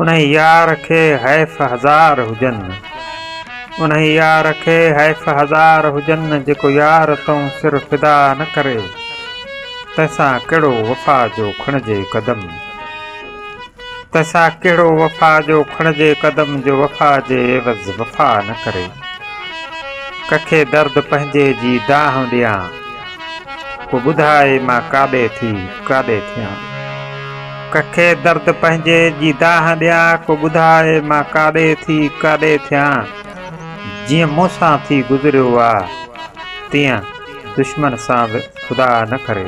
انهي يار کي حيف هزار هجن انهي يار کي حيف هزار هجن جيڪو يار تئون سر فدا نه ڪري تنهن سان ڪهڙو وفا جو کڻجي قدم تنهن سان ڪهڙو وفا جو کڻجي قدم جو وفا جي عيوض وفا نه ڪري ڪکي درد پنهنجي جي دانهن ڏيان ڪو ٻڌاء مان ڪاڏي ٿي ڪاڏي ٿيان ڪکي درد پنهنجي جي دانهن ڏيان ڪو ٻڌاء مان ڪاڏي ٿي ڪاڏي ٿيان جيئن مون سان ٿي گذريو آ تيئن دشمن سان به خدا نه ڪري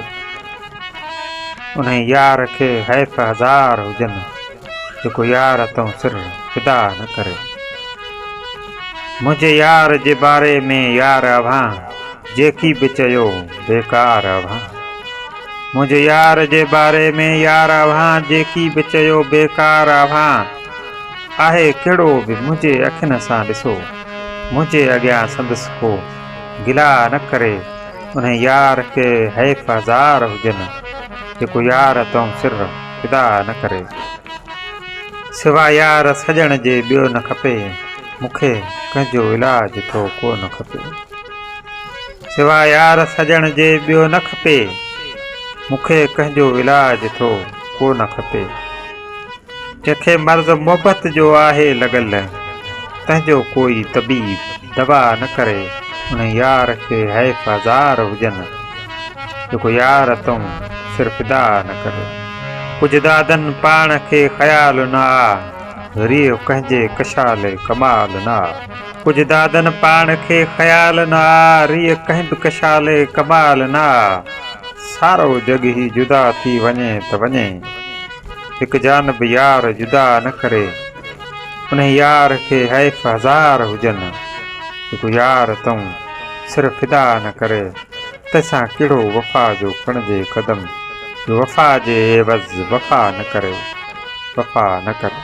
انهي يار کي حيف هزار هجن جيڪو يار تون سر فدا نه ڪري منهنجي يار جي باري ۾ يار اوهان جيڪي به چيو بيڪار اوهان منهنجي يار جي باري ۾ يار اوهان جيڪي به چيو بيڪار اوهان آهي ڪهڙو به منهنجي اکين سان ڏسو منهنجي اڳيان سندس ڪو گلا نه ڪري انهي يار کي حيف هزار هجن جيڪو يار تون سر خدا نه ڪري سوا يار سڄڻ جي ٻيو نه کپي مون کي ڪنهن جو علاج ٿو ڪو نه کپي سوا يار سڄڻ جي ٻيو نه کپي مون کي ڪنهن جو علاج ٿو ڪو نه کپي جنهنکي مرض محبت جو آهي لڳل تنهن جو ڪوئي طبيب دوا نه ڪري ان يار کي حيف هزار هجن جيڪو يار تون سر فدا نه ڪريو ڪجهه دادن پاڻ کي خيال نه آ ذريع ڪنهن جي ڪشال ڪمال نه آ ڪجهه دادن پاڻ کي خيال نه آ ريع ڪنهن به ڪشال ڪمال نه آ سارو جڳ هي جدا ٿي وڃي ته وڃي هڪ جانب يار جدا نه ڪري انهي يار کي حيف هزار هجن جيڪو يار تون سر فدا نه ڪري تنهن سان ڪهڙو وفا جو کڻجي قدم جو وفا جي عيوض وفا نه ڪريو وفا نه ڪريو.